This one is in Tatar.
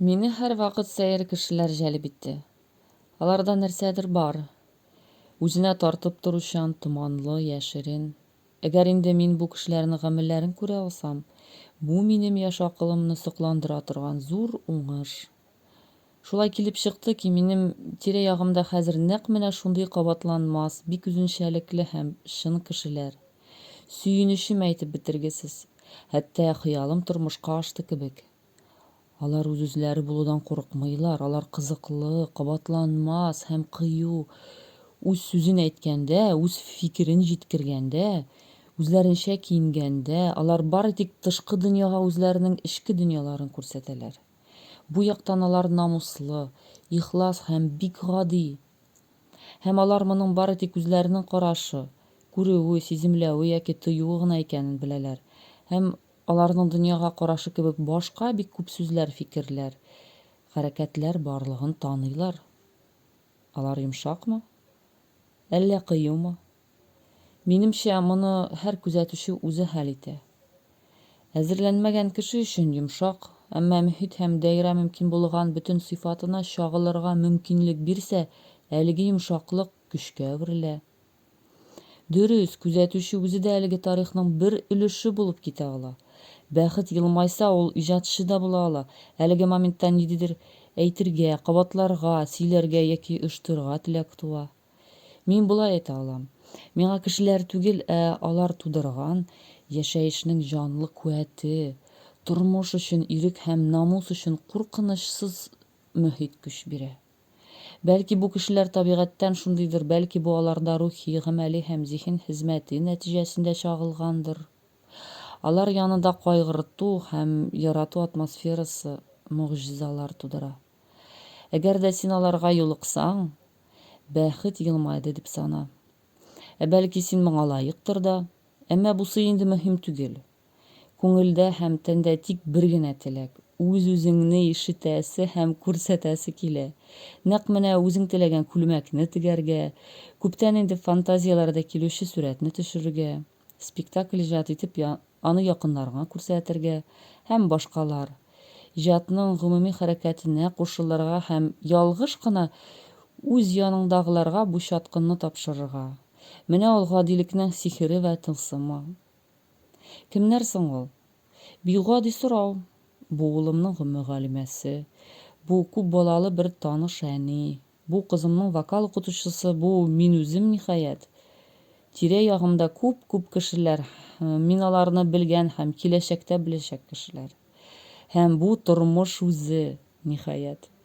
Мине һәрвакыт сәер кешеләр җәлеп итте. Аларда нәрсәдер бар. Үзенә тартып торучан, томанлы, яшерен. Әгәр инде мин бу кешеләрнең гамәлләрен күрә алсам, бу минем яшь акылымны сокландыра торган зур уңыш. Шулай килеп чыкты ки, минем тирә-ягымда хәзер нәкъ менә шундый кабатланмас, бик үзенчәлекле һәм чын кешеләр. Сөенечем әйтеп бетергесез. Хәтта хыялым тормышка ашты кебек. Алар үз-үзләре булудан курыкмыйлар, алар кызыклы, кабатланмас һәм кыю. Үз сүзен әйткәндә, үз фикерен җиткергәндә, үзләренчә киенгәндә, алар бары тик тышкы дөньяга үзләренең эчке дөньяларын күрсәтәләр. Бу яктан алар намуслы, ихлас һәм бик гади. Һәм алар моның бары тик үзләренең карашы, күрүе, сиземләве яки тоюы гына икәнен беләләр һәм Аларның дөньяга карашы кебек башка бик күп сүзләр, фикерләр, хәрәкәтләр барлыгын таныйлар. Алар йомшакмы? Әллә кыюмы? Минемчә, моны һәр күзәтүче үзе хәл итә. Әзерләнмәгән кеше өчен йомшак, әмма мөхит һәм даирә мөмкин булган бөтен сыйфатына чагылырга мөмкинлек бирсә, әлеге йомшаклык көчкә әверелә. Дөрес, күзәтүче үзе дә әлеге тарихның бер өлеше булып китә ала. Бәхет елмайса, ул иҗатчы да була ала, әлеге моментта ниндидер әйтергә, кабатларга, сөйләргә яки оештырырга теләк туа. Мин болай әйтә алам, миңа кешеләр түгел, ә алар тудырган яшәешнең җанлы куәте, тормыш өчен ирек һәм намус өчен куркынычсыз мохит көч бирә. Бәлки, бу кешеләр табигатьтән шундыйдыр, бәлки, бу аларда рухи, гамәли һәм зиһен хезмәте нәтиҗәсендә чагылгандыр. Алар янында кайгырту һәм ярату атмосферасы могҗизалар тудыра. Әгәр дә син аларга юлыксаң, бәхет елмайды дип сана. Ә бәлки, син моңа лаектыр да? Әмма бусы инде мөһим түгел. Күңелдә һәм тәндә тик бер генә теләк, үз-үзеңне ишетәсе һәм күрсәтәсе килә. Нәкъ менә үзең теләгән күлмәкне тегәргә, күптән инде фантазияләрдә килүче сурәтне төшерергә, спектакль иҗат итеп аны якыннарыңа күрсәтергә һәм башкалар. Иҗатның гомуми хәрәкәтенә кушылырга һәм ялгыш кына үз яныңдагыларга бу чаткынны тапшырырга. Менә ул гадилекнең сихере вә тылсымы. Кемнәр соң ул? Бигъади сорау. Бу улымның гомөгалимәсе, бу күп балалы бер таныш әни, бу кызымның вокал укытучысы, бу мин үзем, ниһаять. Тирә-ягымда күп-күп кешеләр, мин аларны белгән һәм киләчәктә беләчәк кешеләр. Һәм бу тормыш үзе, ниһаять.